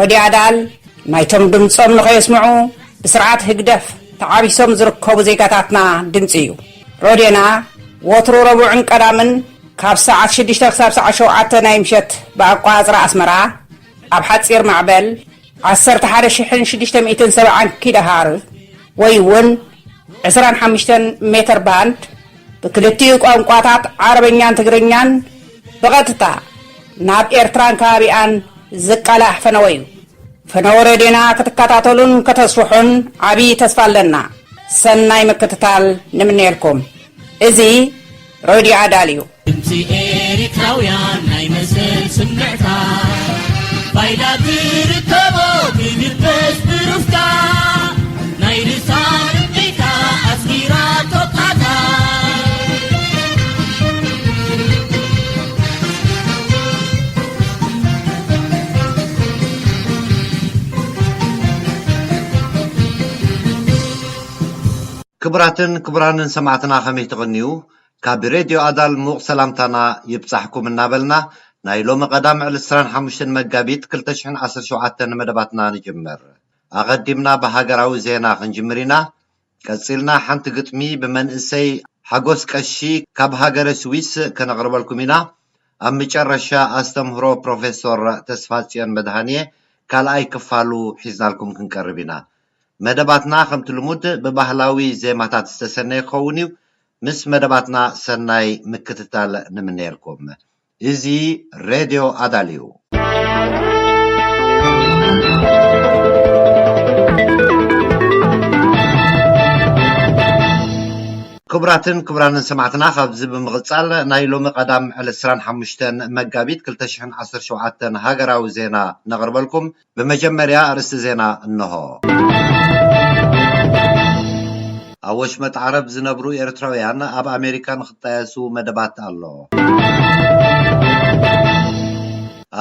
ረድዮ ኣዳል ናይቶም ድምጾም ንኸየስምዑ ብስርዓት ህግደፍ ተዓቢሶም ዝርከቡ ዜጋታትና ድምጺ እዩ። ረድዮና ወትሩ ረቡዕን ቀዳምን ካብ ሰዓት ሽዱሽተ ክሳብ ሰዓት ሸውዓተ ናይ ምሸት ብኣቆጻጽራ ኣስመራ ኣብ ሓጺር ማዕበል ዓሰርተ ሓደ ሽሕን ሽዱሽተ ሚእትን ሰብዓን ኪሎሃር ወይ እውን ዕስራን ሓሙሽተን ሜተር ባንድ ብክልቲኡ ቋንቋታት ዓረበኛን ትግርኛን ብቐጥታ ናብ ኤርትራን ከባቢኣን ዝቃላሕ ፈነወ'ዩ። ፈነወ ሬድዮና ክትከታተሉን ከተስፍሑን ዓቢ ተስፋ ኣለና። ሰናይ ምክትታል ንምነየልኩም። እዚ ሬድዮ ኣዳል እዩ። ድምጺ ኤሪትራውያን ናይ መሰል ስምዕታ ባይላ ትርከቦ ትድበስ ብሩፍታ ናይ ርሳ ርምዒታ ኣስጊራ ቶቃታ። ክቡራትን ክቡራንን ሰማዕትና ከመይ ትቕንዩ ካብ ሬድዮ ኣዳል ምዉቕ ሰላምታና ይብጻሕኩም እናበልና ናይ ሎሚ ቀዳም ዕለት ዕስራን ሓሙሽተን መጋቢት ክልተ ሽሕን ዓሰርተ ሸውዓተን መደባትና ንጅምር ኣቐዲምና ብሃገራዊ ዜና ክንጅምር ኢና ቀጺልና ሓንቲ ግጥሚ ብመንእሰይ ሓጎስ ቀሺ ካብ ሃገረ ስዊስ ከነቕርበልኩም ኢና። ኣብ ምጨረሻ ኣስተምህሮ ፕሮፌሶር ተስፋጽዮን መድሃንየ ካልኣይ ክፋሉ ሒዝናልኩም ክንቀርብ ኢና። መደባትና ከምቲ ልሙድ ብባህላዊ ዜማታት ዝተሰነየ ክኸውን እዩ። ምስ መደባትና ሰናይ ምክትታል ንምነየልኩም። እዚ ሬድዮ ኣዳል እዩ። ክቡራትን ክቡራንን ሰማዕትና ካብዚ ብምቕጻል ናይ ሎሚ ቀዳም ዕለት ዕስራን ሓሙሽተን መጋቢት ክልተ ሽሕን ዓሰርተ ሸውዓተን ሃገራዊ ዜና ነቕርበልኩም። ብመጀመርያ ኣርእስቲ ዜና እነሆ። ኣብ ወሽመጥ ዓረብ ዝነብሩ ኤርትራውያን ኣብ ኣሜሪካ ንክጣየሱ መደባት ኣሎ።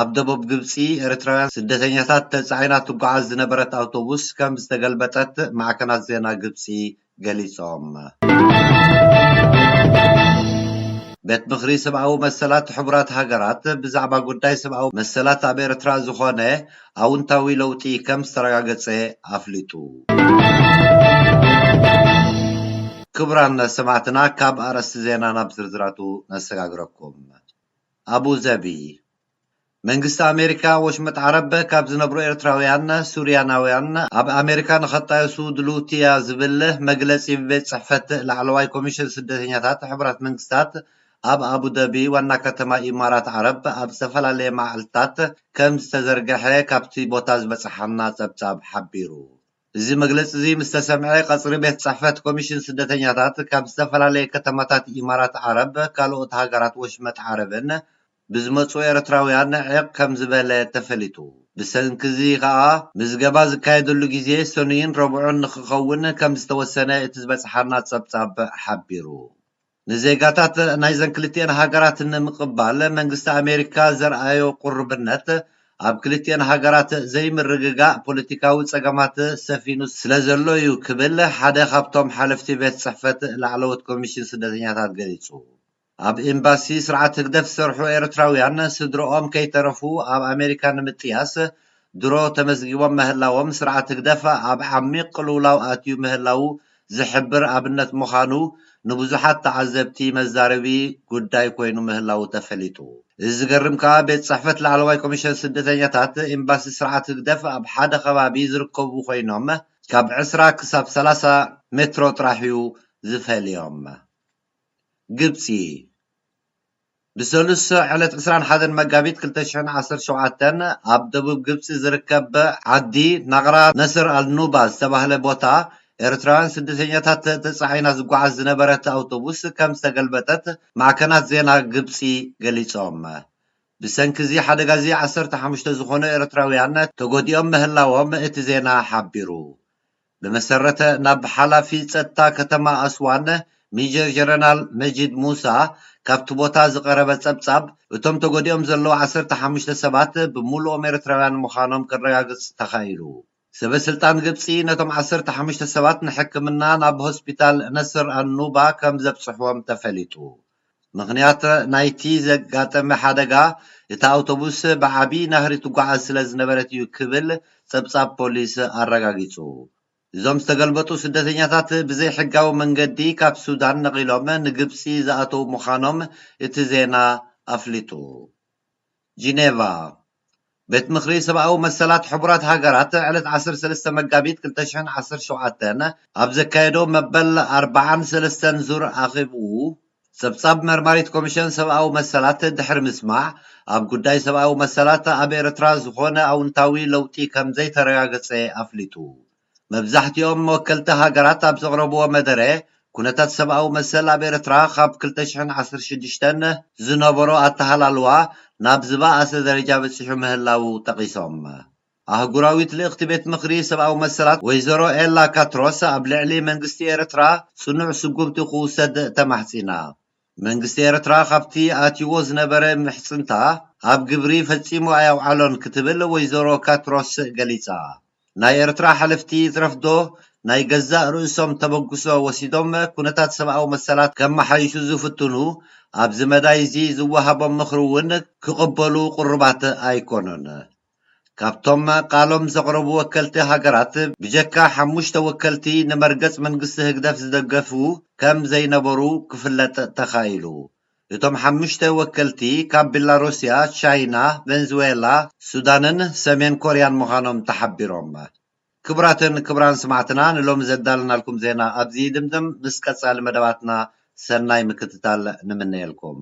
ኣብ ደቡብ ግብጺ ኤርትራውያን ስደተኛታት ተጻዒና ትጓዓዝ ዝነበረት ኣውቶቡስ ከም ዝተገልበጠት ማዕከናት ዜና ግብጺ ገሊጾም። ቤት ምኽሪ ሰብኣዊ መሰላት ሕቡራት ሃገራት ብዛዕባ ጉዳይ ሰብኣዊ መሰላት ኣብ ኤርትራ ዝኾነ ኣውንታዊ ለውጢ ከም ዝተረጋገጸ ኣፍሊጡ። ክቡራን ሰማዕትና ካብ ኣርእስቲ ዜና ናብ ዝርዝራቱ ነሰጋግረኩም። ኣቡዘቢ መንግስቲ ኣሜሪካ ወሽመጥ ዓረብ ካብ ዝነብሩ ኤርትራውያን ሱርያናውያን ኣብ ኣሜሪካ ንኸጣየሱ ድልውቲ'ያ ዝብል መግለጺ ብቤት ጽሕፈት ላዕለዋይ ኮሚሽን ስደተኛታት ሕቡራት መንግስታት ኣብ ኣቡደቢ ዋና ከተማ ኢማራት ዓረብ ኣብ ዝተፈላለየ መዓልትታት ከምዝተዘርገሐ ካብቲ ቦታ ዝበጽሓና ጸብጻብ ሓቢሩ። እዚ መግለጺ'ዚ ምስተሰምዐ ቀጽሪ ቤት ጽሕፈት ኮሚሽን ስደተኛታት ካብ ዝተፈላለየ ከተማታት ኢማራት ዓረብ ካልኦት ሃገራት ወሽመጥ ዓረብን ብዝመጹ ኤርትራውያን ዒቕ ከም ዝበለ ተፈሊጡ። ብሰንኪ'ዚ ከኣ ምዝገባ ዝካየደሉ ግዜ ሰኑይን ረቡዕን ንኽኸውን ከም ዝተወሰነ እቲ ዝበጽሓና ጸብጻብ ሓቢሩ። ንዜጋታት ናይዘን ክልቲኤን ሃገራት ንምቕባል መንግስቲ ኣሜሪካ ዘርኣዮ ቁርብነት፣ ኣብ ክልቲኤን ሃገራት ዘይምርግጋእ ፖለቲካዊ ጸገማት ሰፊኑ ስለ ዘሎ'ዩ ክብል ሓደ ካብቶም ሓለፍቲ ቤት ጽሕፈት ላዕለዎት ኮሚሽን ስደተኛታት ገሊጹ። ኣብ ኤምባሲ ስርዓት ህግደፍ ዝሰርሑ ኤርትራውያን ስድርኦም ከይተረፉ ኣብ ኣሜሪካ ንምጥያስ ድሮ ተመዝጊቦም ምህላዎም ስርዓት ህግደፍ ኣብ ዓሚቕ ቅልውላው ኣትዩ ምህላዉ ዝሕብር ኣብነት ምዃኑ ንብዙሓት ተዓዘብቲ መዛረቢ ጉዳይ ኮይኑ ምህላዉ ተፈሊጡ። እዚ ዝገርም ከኣ ቤት ጽሕፈት ላዕለዋይ ኮሚሽን ስደተኛታት ኤምባሲ ስርዓት ህግደፍ ኣብ ሓደ ከባቢ ዝርከቡ ኮይኖም ካብ ዕስራ ክሳብ ሰላሳ ሜትሮ ጥራሕ'ዩ ዝፈልዮም። ግብጺ፣ ብሰሉስ ዕለት ዕስራን ሓደን መጋቢት ክልተ ሽሕን ዓሰርተ ሸውዓተን ኣብ ደቡብ ግብጺ ዝርከብ ዓዲ ናቕራ ነስር ኣል-ኑባ ዝተባህለ ቦታ ኤርትራውያን ስደተኛታት ተጻዒና ዝጓዓዝ ዝነበረት ኣውቶቡስ ከም ዝተገልበጠት ማዕከናት ዜና ግብጺ ገሊጾም። ብሰንኪ'ዚ ሓደጋ'ዚ ዓሰርተ ሓሙሽተ ዝኾኑ ኤርትራውያን ተጎዲኦም ምህላዎም እቲ ዜና ሓቢሩ። ብመሰረተ ናብ ሓላፊ ጸጥታ ከተማ ኣስዋን ሚጀር ጀረናል መጂድ ሙሳ ካብቲ ቦታ ዝቐረበ ጸብጻብ፣ እቶም ተጎዲኦም ዘለዉ ዓሰርተ ሓሙሽተ ሰባት ብምሉኦም ኤርትራውያን ምዃኖም ከረጋግጽ ተኻኢሉ። ሰበስልጣን ግብጺ ነቶም ዓሰርተ ሓሙሽተ ሰባት ንሕክምና ናብ ሆስፒታል ነስር ኣን-ኑባ ከም ዘብጽሑዎም ተፈሊጡ። ምኽንያት ናይቲ ዘጋጠመ ሓደጋ እታ ኣውቶቡስ ብዓቢ ናህሪ ትጓዓዝ ስለ ዝነበረት እዩ ክብል ጸብጻብ ፖሊስ ኣረጋጊጹ። እዞም ዝተገልበጡ ስደተኛታት ብዘይሕጋዊ መንገዲ ካብ ሱዳን ነቒሎም ንግብጺ ዝኣተዉ ምዃኖም እቲ ዜና ኣፍሊጡ። ጂኔቫ፣ ቤት ምኽሪ ሰብኣዊ መሰላት ሕቡራት ሃገራት ዕለት ዓሰርተ ሰለስተ መጋቢት ክልተ ሽሕን ዓሰርተ ሸውዓተን ኣብ ዘካየዶ መበል ኣርባዓን ሰለስተን ዙር ኣኼብኡ፣ ጸብጻብ መርማሪት ኮሚሸን ሰብኣዊ መሰላት ድሕሪ ምስማዕ፣ ኣብ ጉዳይ ሰብኣዊ መሰላት ኣብ ኤርትራ ዝኾነ ኣውንታዊ ለውጢ ከምዘይተረጋገጸ ኣፍሊጡ። መብዛሕቲኦም ወከልቲ ሃገራት ኣብ ዘቕረብዎ መደረ፣ ኩነታት ሰብኣዊ መሰል ኣብ ኤርትራ ካብ ክልተ ሽሕን ዓሰርተ ሽዱሽተን ዝነበሮ ኣተሃላልዋ ናብ ዝበኣሰ ደረጃ በጺሑ ምህላዉ ጠቒሶም። ኣህጉራዊት ልእኽቲ ቤት ምኽሪ ሰብኣዊ መሰላት ወይዘሮ ኤላ ካትሮስ ኣብ ልዕሊ መንግስቲ ኤርትራ ጽኑዕ ስጉምቲ ክውሰድ ተማሕጺና። መንግስቲ ኤርትራ ካብቲ ኣትዩዎ ዝነበረ ምሕጽንታ ኣብ ግብሪ ፈጺሙ ኣየውዓሎን ክትብል ወይዘሮ ካትሮስ ገሊጻ። ናይ ኤርትራ ሓለፍቲ ይትረፍዶ ናይ ገዛእ ርእሶም ተበግሶ ወሲዶም ኩነታት ሰብኣዊ መሰላት ከመሓይሹ ዝፍትኑ ኣብዚ መዳይ'ዚ ዝወሃቦም ምኽሪ'ውን ክቕበሉ ቅሩባት ኣይኮኑን። ካብቶም ቃሎም ዘቕረቡ ወከልቲ ሃገራት ብጀካ ሓሙሽተ ወከልቲ ንመርገጽ መንግስቲ ህግደፍ ዝደገፉ ከም ዘይነበሩ ክፍለጥ ተኻኢሉ። እቶም ሓሙሽተ ወከልቲ ካብ ቢላሩስያ፣ ቻይና፣ ቨንዝዌላ፣ ሱዳንን ሰሜን ኮርያን ምዃኖም ተሓቢሮም። ክቡራትን ክቡራን ስማዕትና ንሎሚ ዘዳለናልኩም ዜና ኣብዚ ይድምድም ምስ ቀጻሊ መደባትና ሰናይ ምክትታል ንምነየልኩም።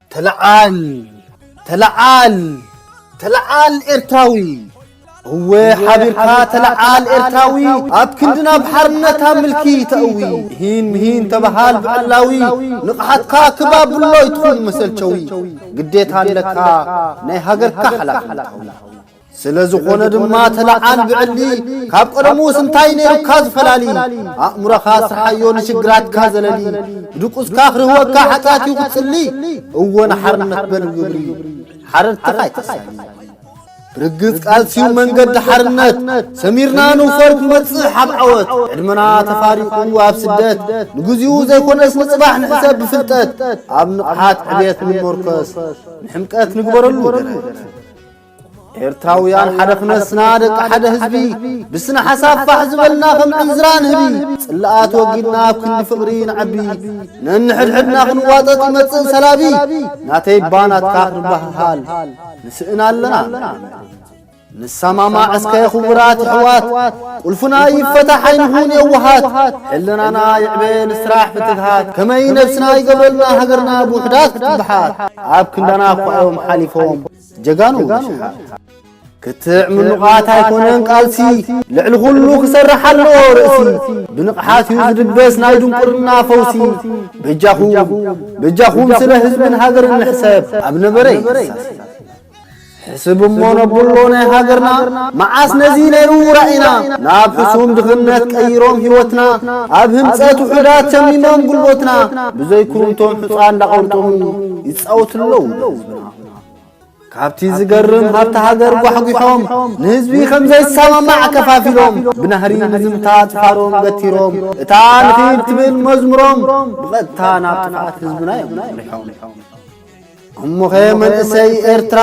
ተለዓል ተለዓል ተለዓል ኤርትራዊ እወ ሓቢርካ ተለዓል ኤርትራዊ ኣብ ክንድና ብሓርነታ ምልኪ ተእዊ ምሂን ምሂን ተበሃል ብዕላዊ ንቕሓትካ ክባብሎ ይትኹን መሰልቸዊ ግዴታ ኣለካ ናይ ሃገርካ ሓላፍነታዊ ስለ ዝኾነ ድማ ተለዓል ብዕሊ ካብ ቀደሙስ እንታይ ነይሩካ ዝፈላሊ ኣእምሮኻ ስርሓዮ ንሽግራትካ ዘለሊ ብድቁስካ ክርህወካ ሓጢኣት እዩ ክትጽሊ እወ ንሓርነት በል ግብሪ ሓረድትኻ ኣይተሳሊ ብርግጽ ቃልሲዩ መንገዲ ሓርነት ሰሚርና ንውፈር ክመጽእ ሓብ ዓወት ዕድመና ተፋሪቑ ኣብ ስደት ንግዚኡ ዘይኮነስ ንጽባሕ ንሕሰብ ብፍልጠት ኣብ ንቕሓት ዕብየት ንመርከስ ንሕምቀት ንግበረሉ ደረት ኤርትራውያን ሓደ ክነስና ደቂ ሓደ ህዝቢ ብስነ ሓሳብ ፋሕ ዝበልና ከም ዕንዝራ ንህቢ ጽላኣት ወጊድና ኣብ ክንዲ ፍቕሪ ንዓቢ ነንሕድሕድና ክንዋጠጥ ይመጽእ ሰላቢ ናተይ ባ ናትካ ክንበሃሃል ንስእን ኣለና ንሰማማዕ እስከ ክቡራት ኣሕዋት ቁልፍና ይፈታሕ ኣይንኹን የዋሃት ሕልናና ይዕበ ንስራሕ ብትግሃት ከመይ ነብስና ይገብረልና ሃገርና ብውሕዳት ክትብሓት ኣብ ክንዳና እኳ እዮም ሓሊፎም ጀጋኑ ነሽሓት ክትዕ ምኑቓት ኣይኮነን ቃልሲ ልዕሊ ዅሉ ክሰርሕ ኣለዎ ርእሲ ብንቕሓት እዩ ዝድበስ ናይ ድንቁርና ፈውሲ በጃኹም በጃኹም ስለ ህዝብን ሃገርን ንሕሰብ ኣብ ነበረ ሕስብ እሞ ነብሎ ናይ ሃገርና መዓስ ነዚ ነይሩ ራእና ናብ ሕሱም ድኽነት ቀይሮም ህይወትና ኣብ ህንፀት ውሑዳት ተሚሞም ጉልቦትና ብዘይኩሩምቶም ሕፃን እንዳቐርጡም ይፃወቱ ኣለዉ ህዝብና ካብቲ ዝገርም ሃብቲ ሃገር ጓሕጒሖም ንህዝቢ ከም ዘይሰማማዕ ከፋፊሎም ብናህሪ ንዝምታ ጭፋሮም ገቲሮም እታ ንኽይድ ትብል መዝሙሮም ብቐጥታ ናብ ጥፍኣት ህዝብና እዮም መሪሖም እሞኸ መንእሰይ ኤርትራ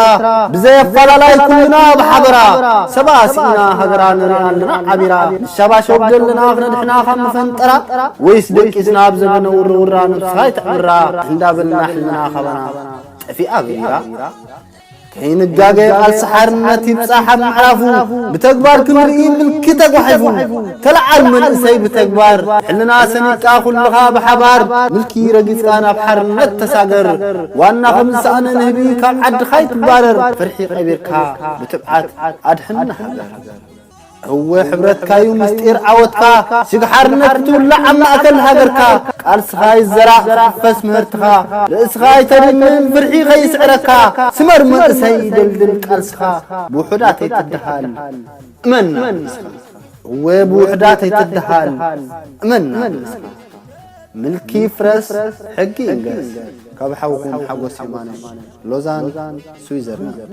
ብዘይ ኣፈላላይ ኩልና ብሓበራ ሰብኣ ስኢና ሃገራ ንርኢ ኣለና ዓቢራ ንሸባሸብ ዘለና ክነድሕና ካብ መፈንጠራ ወይስ ደቂስና ኣብ ዘበነ ውርውራ ነብስኻ ይትዕምራ እንዳበልና ሕልና ካባና ጠፊኣ ገይራ ከይንጋገ ቃልሲ ሓርነት ይብጻሕ ኣብ ምዕራፉ ብተግባር ክንርኢ ምልኪ ተጓሒፉ ተለዓል መንእሰይ ብተግባር ሕልና ሰኒቅካ ኩልኻ ብሓባር ምልኪ ረጊጽካ ናብ ሓርነት ተሳገር ዋና ከም ዝሰኣነ ንህቢ ካብ ዓድኻ ይትባረር ፍርሒ ቀቢርካ ብትብዓት ኣድሕን ንሃገር እወ ሕብረትካዩ ምስጢር ዓወትካ ስግ ሓርነት ክትውላዕ ኣብ ማእከል ሃገርካ ቃልስኻ ይዘራእ ክሕፈስ ምህርትኻ ርእስኻ ኣይተድንን ፍርሒ ከይስዕረካ ስመር መንእሰይ ደልድል ቃልስኻ ብውሑዳት ኣይትደሃል እመና ንስኻ እወ ብውሑዳት ኣይትደሃል እመና ንስኻ ምልኪ ፍረስ ሕጊ ይንገስ ካብ ሓውኹም ሓጎስ የማነ ሎዛን ስዊዘርላንድ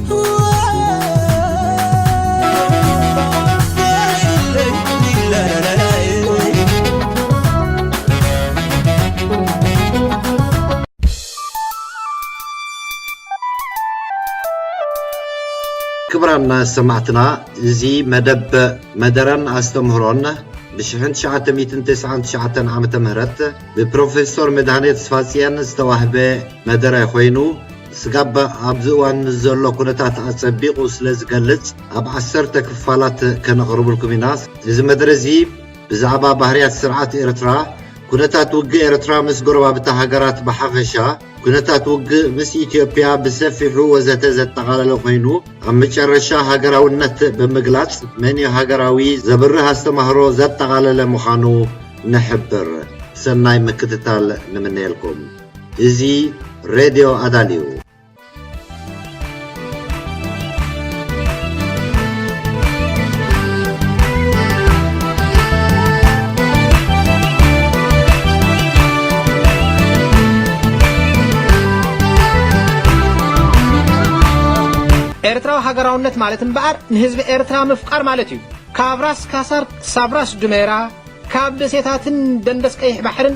ክብራና ሰማዕትና እዚ መደብ መደረን ኣስተምህሮን ብ1999 ዓ ም ብፕሮፌሶር መድሃኔ ተስፋጽየን ዝተዋህበ መደረ ኮይኑ ስጋብ ኣብዚ እዋን ንዘሎ ኩነታት ኣጸቢቑ ስለ ዝገልጽ ኣብ ዓሰርተ ክፋላት ከነቕርብልኩም ኢና። እዚ መደረ እዚ ብዛዕባ ባህርያት ስርዓት ኤርትራ፣ ኩነታት ውግእ ኤርትራ ምስ ጎረባብታ ሃገራት ብሓፈሻ፣ ኩነታት ውግእ ምስ ኢትዮጵያ ብሰፊሑ ወዘተ ዘጠቓለለ ኮይኑ፣ ኣብ መጨረሻ ሃገራውነት ብምግላጽ መንዩ ሃገራዊ ዘብርህ ኣስተምህሮ ዘጠቓለለ ምዃኑ ንሕብር። ሰናይ ምክትታል ንምነየልኩም። እዚ ሬድዮ ኣዳል እዩ። ኤርትራዊ ሃገራውነት ማለት እምበኣር ንህዝቢ ኤርትራ ምፍቃር ማለት እዩ ካብ ራስ ካሳር ክሳብ ራስ ዱሜራ ካብ ደሴታትን ደንደስ ቀይሕ ባሕርን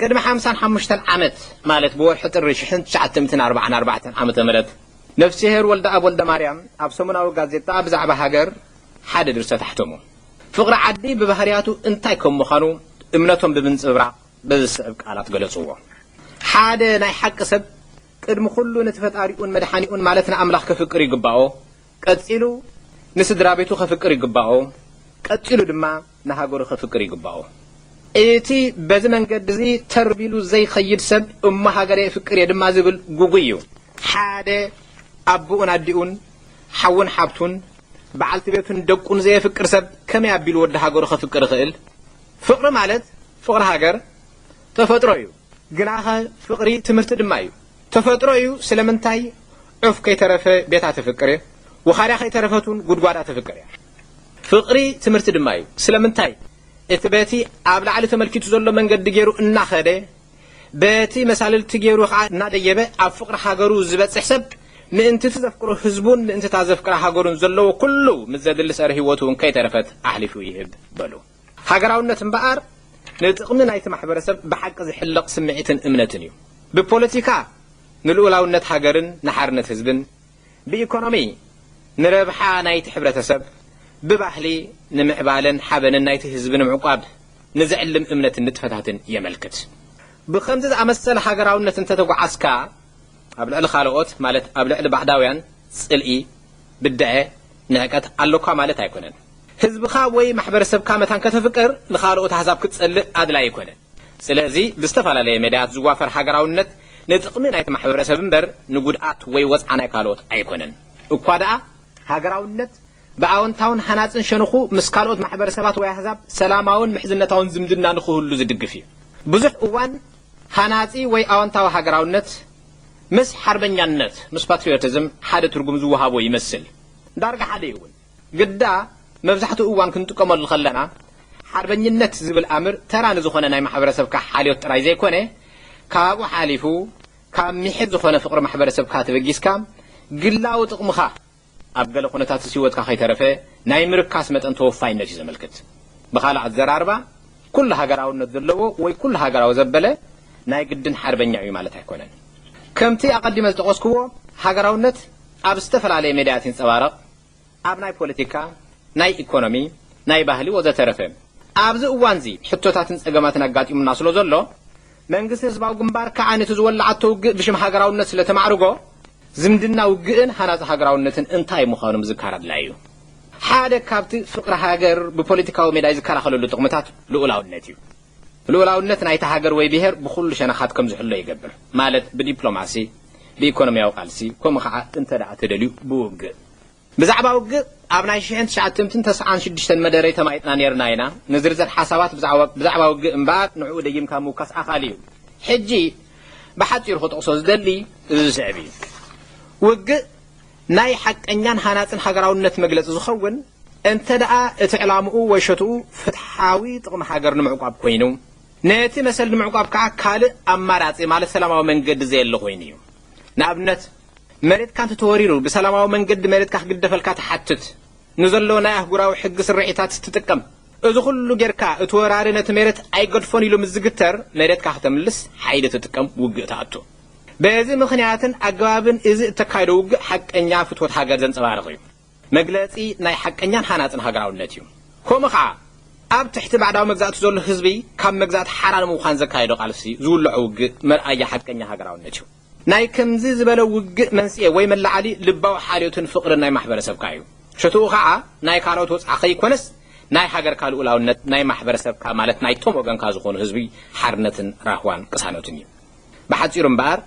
ቅድሚ ሓምሳን ሓሙሽተን ዓመት ማለት ብወርሒ ጥሪ ሽሕን ትሽዓተ ሚእትን ኣርባዓን ኣርባዕተን ዓመተ ምህረት ነፍስሄር ወልደኣብ ወልደማርያም ኣብ ሰሙናዊ ጋዜጣ ብዛዕባ ሃገር ሓደ ድርሰት ኣሕተሙ። ፍቕሪ ዓዲ ብባህርያቱ እንታይ ከም ምዃኑ እምነቶም ብምንጽብራቕ በዚ ዝስዕብ ቃላት ገለጽዎ፣ ሓደ ናይ ሓቂ ሰብ ቅድሚ ኹሉ ነቲ ፈጣሪኡን መድሓኒኡን ማለት ንኣምላኽ ከፍቅር ይግባኦ፣ ቀጺሉ ንስድራቤቱ ከፍቅር ይግባኦ፣ ቀጺሉ ድማ ንሃገሩ ከፍቅር ይግባኦ። እቲ በዚ መንገዲ እዚ ተር ቢሉ ዘይከይድ ሰብ እሞ ሃገረይ እፍቅር እየ ድማ ዝብል ጉጉይ እዩ። ሓደ ኣቡኡን ኣዲኡን፣ ሓውን ሓብቱን፣ በዓልቲ ቤቱን ደቁን ዘየፍቅር ሰብ ከመይ ኣቢሉ ወዲ ሃገሩ ከፍቅር ይኽእል? ፍቕሪ ማለት ፍቕሪ ሃገር ተፈጥሮ እዩ። ግናኸ ፍቕሪ ትምህርቲ ድማ እዩ። ተፈጥሮ እዩ ስለምንታይ ዑፍ ከይተረፈ ቤታ ተፍቅር እየ፣ ውኻርያ ከይተረፈት እውን ጉድጓዳ ተፍቅር እያ። ፍቕሪ ትምህርቲ ድማ እዩ። ስለምንታይ? እቲ በቲ ኣብ ላዕሊ ተመልኪቱ ዘሎ መንገዲ ገይሩ እናኸደ በቲ መሳልልቲ ገይሩ ከዓ እናደየበ ኣብ ፍቕሪ ሃገሩ ዝበፅሕ ሰብ ምእንቲ እቲ ዘፍቅሮ ህዝቡን ምእንቲ እታ ዘፍቅራ ሃገሩን ዘለዎ ኩሉ ምስ ዘድሊ ሰረ ህይወቱ እውን ከይተረፈት ኣሕሊፉ ይህብ በሉ። ሃገራውነት እምበኣር ንጥቕሚ ናይቲ ማሕበረሰብ ብሓቂ ዝሕለቕ ስምዒትን እምነትን እዩ። ብፖለቲካ ንልኡላውነት ሃገርን ንሓርነት ህዝብን፣ ብኢኮኖሚ ንረብሓ ናይቲ ሕብረተሰብ፣ ብባህሊ ንምዕባለን ሓበንን ናይቲ ህዝቢ ንምዕቋብ ንዘዕልም እምነትን ንጥፈታትን የመልክት። ብኸምዚ ዝኣመሰለ ሃገራውነት እንተተጓዓዝካ፣ ኣብ ልዕሊ ካልኦት ማለት ኣብ ልዕሊ ባዕዳውያን ጽልኢ፣ ብደዐ፣ ንዕቀት፣ ኣሎካ ማለት ኣይኮነን። ህዝብኻ ወይ ማሕበረሰብካ መታን ከተፍቅር ንኻልኦት ኣህዛብ ክትጸልእ ኣድላዪ ኣይኮነን። ስለዚ ብዝተፈላለየ መዳያት ዝዋፈር ሃገራውነት ንጥቕሚ ናይቲ ማሕበረሰብ እምበር ንጉድኣት ወይ ወጽዓ ናይ ካልኦት ኣይኮነን። እኳ ደኣ ሃገራውነት ብኣወንታውን ሃናጽን ሸንኹ ምስ ካልኦት ማሕበረሰባት ወይ ኣህዛብ ሰላማውን ምሕዝነታውን ዝምድና ንኽህሉ ዝድግፍ እዩ። ብዙሕ እዋን ሃናጺ ወይ ኣወንታዊ ሃገራውነት ምስ ሓርበኛነት ምስ ፓትሪዮቲዝም ሓደ ትርጉም ዝወሃቦ ይመስል። ዳርጋ ሓደ እዩ'ውን። ግዳ መብዛሕትኡ እዋን ክንጥቀመሉ ከለና ሓርበኝነት ዝብል ኣምር ተራ ንዝኾነ ናይ ማሕበረሰብካ ሓልዮት ጥራይ ዘይኮነ ካብኡ ሓሊፉ ካብ ሚሒር ዝኾነ ፍቕሪ ማሕበረሰብካ ተበጊስካ ግላዊ ጥቕምኻ ኣብ ገለ ኩነታትስ ህይወትካ ከይተረፈ ናይ ምርካስ መጠን ተወፋይነት እዩ ዘመልክት። ብኻልእ ኣዘራርባ ኩሉ ሃገራውነት ዘለዎ ወይ ኩሉ ሃገራዊ ዘበለ ናይ ግድን ሓርበኛ እዩ ማለት ኣይኮነን። ከምቲ ኣቐዲመ ዝጠቐስኩዎ ሃገራውነት ኣብ ዝተፈላለየ ሜዳያት ይንጸባረቕ። ኣብ ናይ ፖለቲካ፣ ናይ ኢኮኖሚ፣ ናይ ባህሊ ወዘተረፈ ኣብዚ እዋንዚ ሕቶታትን ጸገማትን ኣጋጢሙና ስለዘሎ፣ መንግስቲ ህዝባዊ ግንባር ክኣ ነቲ ዝወላዓቶ ውግእ ብሽም ሃገራውነት ስለተማዕርጎ፣ ዝምድና ውግእን ሃናጺ ሃገራውነትን እንታይ ምዃኑ ምዝካር ኣድላዪ እዩ። ሓደ ካብቲ ፍቕሪ ሃገር ብፖለቲካዊ ሜዳይ ዝከላኸለሉ ጥቕምታት ልኡላውነት እዩ። ልኡላውነት ናይታ ሃገር ወይ ብሄር ብኹሉ ሸነኻት ከም ዝሕሎ ይገብር፣ ማለት ብዲፕሎማሲ፣ ብኢኮኖሚያዊ ቃልሲ፣ ከምኡ ኸዓ እንተድኣ ተደልዩ ብውግእ። ብዛዕባ ውግእ ኣብ ናይ ሽሕን ትሽዓትምትን ተስዓን ሽዱሽተን መደረይ ተማይጥና ኔርና ኢና፣ ንዝርዝር ሓሳባት ብዛዕባ ብዛዕባ ውግእ እምበኣር ንዕኡ ደጊምካ ምውካስ ኣኻሊ እዩ። ሕጂ ብሓጺሩ ክጠቕሶ ዝደሊ እዚ ዝስዕብ እዩ፣ ውግእ ናይ ሓቀኛን ሃናጽን ሃገራውነት መግለጺ ዝኸውን፣ እንተድኣ እቲ ዕላምኡ ወይ ሸትኡ ፍትሓዊ ጥቕሚ ሃገር ንምዕቋብ ኮይኑ፣ ነቲ መሰል ንምዕቋብ ከኣ ካልእ ኣማራጺ ማለት ሰላማዊ መንገዲ ዘየለ ኮይኑ እዩ። ንኣብነት መሬትካ እንተተወሪሩ ብሰላማዊ መንገዲ መሬትካ ክግደፈልካ ትሓትት፣ ንዘሎ ናይ ኣህጉራዊ ሕጊ ስርዒታት ትጥቀም። እዚ ኩሉ ጌርካ እቲ ወራሪ ነቲ ሜሬት ኣይገድፎን ኢሉ ምስ ዝግተር መሬትካ ክተምልስ ሓይሊ ትጥቀም፣ ውግእ ትኣቱ። በዚ ምኽንያትን ኣገባብን እዚ እተካይዶ ውግእ ሓቀኛ ፍትወት ሃገር ዘንጸባርቕ እዩ። መግለጺ ናይ ሓቀኛን ሃናጽን ሃገራውነት እዩ። ከምኡ ከኣ ኣብ ትሕቲ ባዕዳዊ መግዛእቲ ዘሎ ህዝቢ ካብ መግዛእቲ ሓራ ንምዃን ዘካይዶ ቃልሲ ዝውልዖ ውግእ መርኣያ ሓቀኛ ሃገራውነት እዩ። ናይ ከምዚ ዝበለ ውግእ መንስኤ ወይ መለዓሊ ልባዊ ሓልዮትን ፍቕርን ናይ ማሕበረሰብካ እዩ። ሸቶኡ ከኣ ናይ ካልኦት ወጽዓ ከይኮነስ ናይ ሃገርካ ልኡላውነት፣ ናይ ማሕበረሰብካ ማለት ናይቶም ወገንካ ዝኾኑ ህዝቢ ሓርነትን ራህዋን ቅሳነቱን እዩ። ብሓጺሩ እምበኣር፣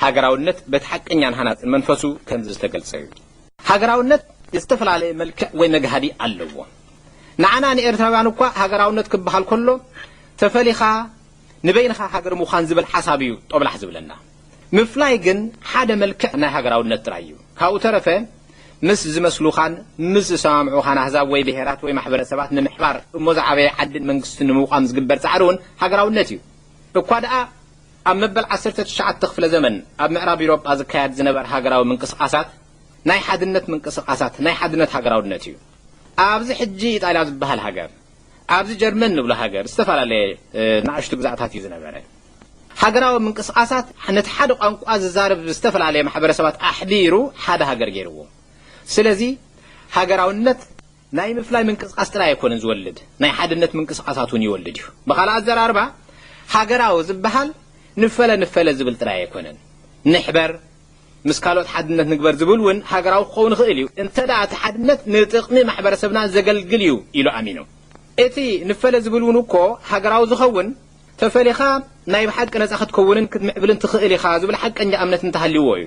ሃገራውነት በቲ ሓቀኛን ሃናጽን መንፈሱ ከምዚ ዝተገልጸ እዩ። ሃገራውነት ዝተፈላለየ መልክዕ ወይ መግሃዲ ኣለዎ። ንዓና ንኤርትራውያን እኳ ሃገራውነት ክበሃል ከሎ ተፈሊኻ ንበይንኻ ሃገር ምዃን ዝብል ሓሳብ እዩ ጦብላሕ ዝብለና። ምፍላይ ግን ሓደ መልክዕ ናይ ሃገራውነት ጥራይ እዩ። ካብኡ ተረፈ ምስ ዝመስሉኻን ምስ ዝሰማምዑኻን ኣህዛብ ወይ ብሄራት ወይ ማሕበረሰባት ንምሕባር እሞ ዝዓበየ ዓድን መንግስትን ንምቋም ዝግበር ጻዕሪ እውን ሃገራውነት እዩ። እኳ ደኣ ኣብ መበል ዓሰርተ ትሽዓተ ክፍለ ዘመን ኣብ ምዕራብ ኢሮጳ ዝካያድ ዝነበር ሃገራዊ ምንቅስቃሳት ናይ ሓድነት ምንቅስቃሳት ናይ ሓድነት ሃገራውነት እዩ። ኣብዚ ሕጂ ኢጣልያ ዝበሃል ሃገር ኣብዚ ጀርመን ንብሎ ሃገር ዝተፈላለየ ናእሽቱ ግዛእታት እዩ ዝነበረ። ሃገራዊ ምንቅስቃሳት ነቲ ሓደ ቋንቋ ዝዛረብ ዝተፈላለየ ማሕበረሰባት ኣሕቢሩ ሓደ ሃገር ገይርዎ። ስለዚ ሃገራውነት። ናይ ምፍላይ ምንቅስቓስ ጥራይ ኣይኮነን ዝወልድ፣ ናይ ሓድነት ምንቅስቓሳት እውን ይወልድ እዩ። ብኻልእ ኣዘራርባ፣ ሃገራዊ ዝበሃል ንፈለ ንፈለ ዝብል ጥራይ ኣይኮነን። ንሕበር፣ ምስ ካልኦት ሓድነት ንግበር ዝብል እውን ሃገራዊ ክኸውን ይኽእል እዩ፣ እንተድኣ እቲ ሓድነት ንጥቕሚ ማሕበረሰብና ዘገልግል እዩ ኢሉ ኣሚኑ። እቲ ንፈለ ዝብል እውን እኮ ሃገራዊ ዝኸውን፣ ተፈሊኻ ናይ ብሓቂ ነጻ ክትከውንን ክትምዕብልን ትኽእል ኢኻ ዝብል ሓቀኛ እምነት እንተሃልዩዎ እዩ።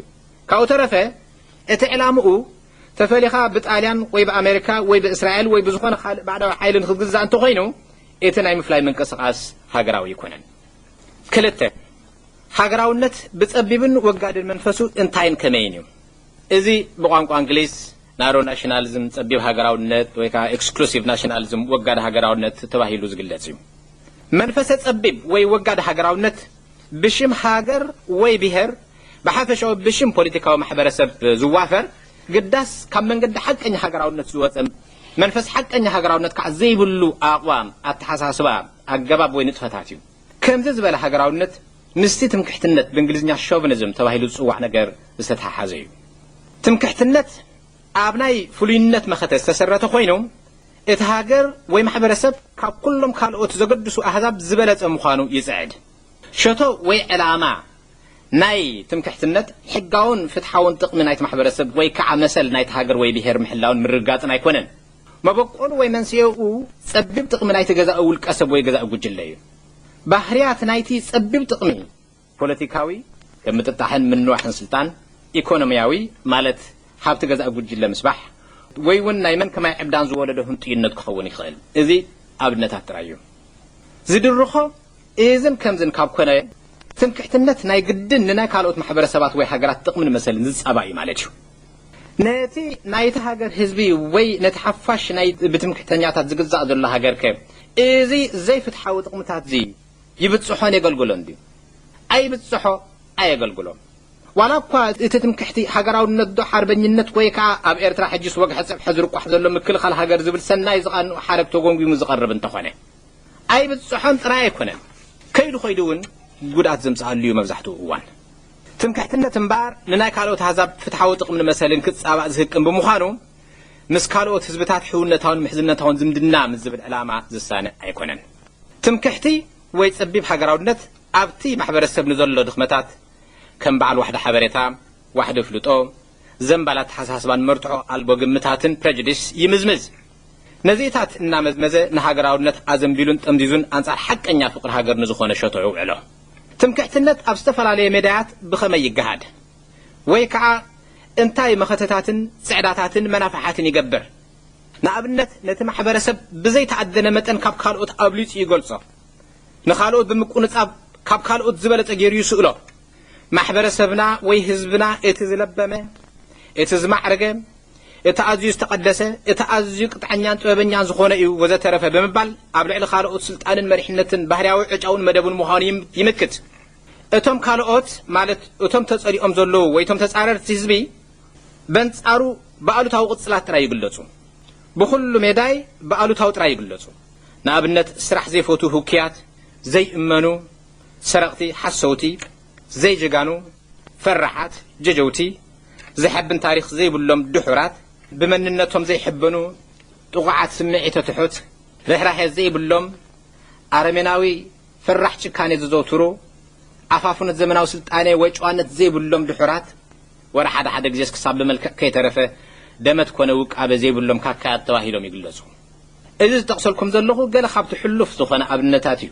ካብኡ ተረፈ፣ እቲ ዕላምኡ ተፈሊኻ ብጣልያን ወይ ብኣመሪካ ወይ ብእስራኤል ወይ ብዝኾነ ካልእ ባዕዳዊ ሓይሊ ንክትግዛእ እንተኾይኑ እቲ ናይ ምፍላይ ምንቅስቓስ ሃገራዊ ኣይኮነን። ክልተ ሃገራውነት ብጸቢብን ወጋድን መንፈሱ እንታይን ከመይን እዩ? እዚ ብቋንቋ እንግሊዝ ናሮ ናሽናሊዝም ጸቢብ ሃገራውነት ወይ ከዓ ኤክስክሉሲቭ ናሽናሊዝም ወጋድ ሃገራውነት ተባሂሉ ዝግለጽ እዩ። መንፈሰ ጸቢብ ወይ ወጋድ ሃገራውነት ብሽም ሃገር ወይ ብሄር ብሓፈሻኡ ብሽም ፖሊቲካዊ ማሕበረሰብ ዝዋፈር ግዳስ ካብ መንገዲ ሓቀኛ ሃገራውነት ዝወጸ መንፈስ ሓቀኛ ሃገራውነት ከኣ ዘይብሉ ኣቕዋም፣ ኣተሓሳስባ፣ ኣገባብ ወይ ንጥፈታት እዩ። ከምዚ ዝበለ ሃገራውነት ምስቲ ትምክሕትነት ብእንግሊዝኛ ሾቭኒዝም ተባሂሉ ዝጽዋዕ ነገር ዝተተሓሓዘ እዩ። ትምክሕትነት ኣብ ናይ ፍሉይነት መኸተ ዝተሰረተ ኮይኑ እቲ ሃገር ወይ ማሕበረሰብ ካብ ኩሎም ካልኦት ዘገድሱ ኣህዛብ ዝበለጸ ምዃኑ ይጽዕድ። ሸቶ ወይ ዕላማ ናይ ትምክሕትነት፣ ሕጋውን ፍትሓውን ጥቕሚ ናይቲ ማሕበረሰብ ወይ ከዓ መሰል ናይቲ ሃገር ወይ ብሄር ምሕላውን ምርግጋፅን ኣይኮነን። መበቆሉ ወይ መንስኤኡ ፀቢብ ጥቕሚ ናይቲ ገዛኢ ውልቀሰብ ወይ ገዛኢ ጉጅለ እዩ። ባህርያት ናይቲ ፀቢብ ጥቕሚ። ፖለቲካዊ፣ ከም ምጥጣሕን ምንዋሕን ስልጣን፣ ኢኮኖሚያዊ፣ ማለት ሃብቲ ገዛኢ ጉጅለ ምስባሕ፣ ወይ እውን ናይ መን ከማይ ዕብዳን ዝወለዶ ህንጡይነት ክኸውን ይኽእል። እዚ ኣብነታት ጥራይ እዩ ዝድርኾ። እዝን ከምዝን ካብ ኮነ፣ ትምክሕትነት ናይ ግድን ንናይ ካልኦት ማሕበረሰባት ወይ ሃገራት ጥቕምን መሰልን ዝጻባእ እዩ ማለት እዩ። ነቲ ናይታ ሃገር ህዝቢ ወይ ነቲ ሓፋሽ ናይ ብትምክሕተኛታት ዝግዛእ ዘሎ ሃገርከ እዚ ዘይፍትሓዊ ጥቕምታትዚ ይብጽሖን የገልግሎን ድዩ? ኣይብጽሖ ኣየገልግሎ። ዋላኳ እቲ ትምክሕቲ ሃገራውነትዶ ሓርበኝነት ወይ ከኣ ኣብ ኤርትራ ሕጂስ ወግሐ ጸብሐ ዝርቋሕ ዘሎ ምክልኻል ሃገር ዝብል ሰናይ ዝቓንኡ ሓረግ ተጎምጒሙ ዝቐርብ እንተኾነ። ኣይብጽሖን ጥራይ ኣይኮነን ከይዱ ከይዱ እውን ጉድኣት ዘምጽኣሉ እዩ መብዛሕትኡ እዋን። ትምክሕትነት እምበኣር ንናይ ካልኦት ኣህዛብ ፍትሓዊ ጥቕምን መሰልን ክጻባእ ዝህቅን ብምዃኑ ምስ ካልኦት ህዝብታት ሕውነታውን ምሕዝነታውን ዝምድና ምስ ዝብል ዕላማ ዝሳነ ኣይኮነን። ትምክሕቲ ወይ ጸቢብ ሃገራውነት ኣብቲ ማሕበረሰብ ንዘሎ ድኽመታት ከም በዓል ዋሕዲ ሓበሬታ፣ ዋሕዲ ኣፍልጦ፣ ዘምባል ኣተሓሳስባን መርትዖ ኣልቦ ግምታትን፣ prejudice፣ ይምዝምዝ። ነዚእታት እናመዝመዘ ንሃገራውነት ኣዘንቢሉን ጠምዚዙን ኣንጻር ሓቀኛ ፍቕሪ ሃገር ንዝኾነ ሸቶዑ ውዕሎ። ትምክሕትነት ኣብ ዝተፈላለየ ሜዳያት ብኸመይ ይገሃድ? ወይ ከኣ እንታይ መኸተታትን ጽዕዳታትን መናፍሓትን ይገብር? ንኣብነት ነቲ ማሕበረሰብ ብዘይተኣደነ መጠን ካብ ካልኦት ኣብሊጹ ይገልጾ፣ ንኻልኦት ብምቁንጻብ ካብ ካልኦት ዝበለጸ ገይሩ ይስእሎ፣ ማሕበረሰብና ወይ ህዝብና እቲ ዝለበመ፣ እቲ ዝማዕረገ፣ እቲ ኣዝዩ ዝተቐደሰ፣ እቲ ኣዝዩ ቅጥዐኛን ጥበበኛን ዝኾነ እዩ ወዘተረፈ ብምባል ኣብ ልዕሊ ካልኦት ስልጣንን መሪሕነትን ባህርያዊ ዕጫኡን መደቡን ምዃኑ ይምክት። እቶም ካልኦት ማለት እቶም ተጸሊኦም ዘለዉ ወይ እቶም ተጻረርቲ ህዝቢ በንጻሩ ብኣሉታዊ ቅጽላት ጥራይ ይግለጹ። ብኹሉ ሜዳይ ብኣሉታዊ ጥራይ ይግለጹ። ንኣብነት ስራሕ ዘይፈትዉ ህኩያት፣ ዘይእመኑ፣ ሰረቅቲ ሓሰውቲ ዘይ ጀጋኑ ፈራሓት ጀጀውቲ ዘሐብን ታሪኽ ዘይብሎም ድሑራት ብመንነቶም ዘይ ሕበኑ ጥቁዓት ስምዒተ ትሑት ርሕራሔ ዘይ ብሎም ኣረሜናዊ ፈራሕ ጭካኔ ዘዘውትሩ ኣፋፍኖት ዘመናዊ ስልጣኔ ወይ ጨዋነት ዘይ ብሎም ድሑራት ወረ ሓደ ሓደ ግዜስ ክሳብ ብመልክዕ ከይ ተረፈ ደመት ኮነ ውቃበ ዘይ ብሎም ካካያት ተባሂሎም ይግለጹ። እዚ ዝጠቅሰልኩም ዘለኹ ገለ ካብቲ ሕሉፍ ዝኾነ ኣብነታት እዩ።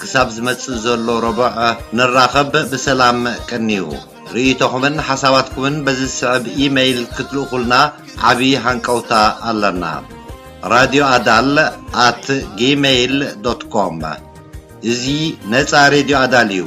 ክሳብ ዝመጽእ ዘሎ ረቡዕ ንራኸብ ብሰላም ቀንዩ። ርእይቶኹምን ሓሳባትኩምን በዚ ዝስዕብ ኢመይል ክትልእኹልና ዓቢ ሃንቀውታ ኣለና radio adal at gmail dot com እዚ ነጻ ሬድዮ ኣዳል እዩ።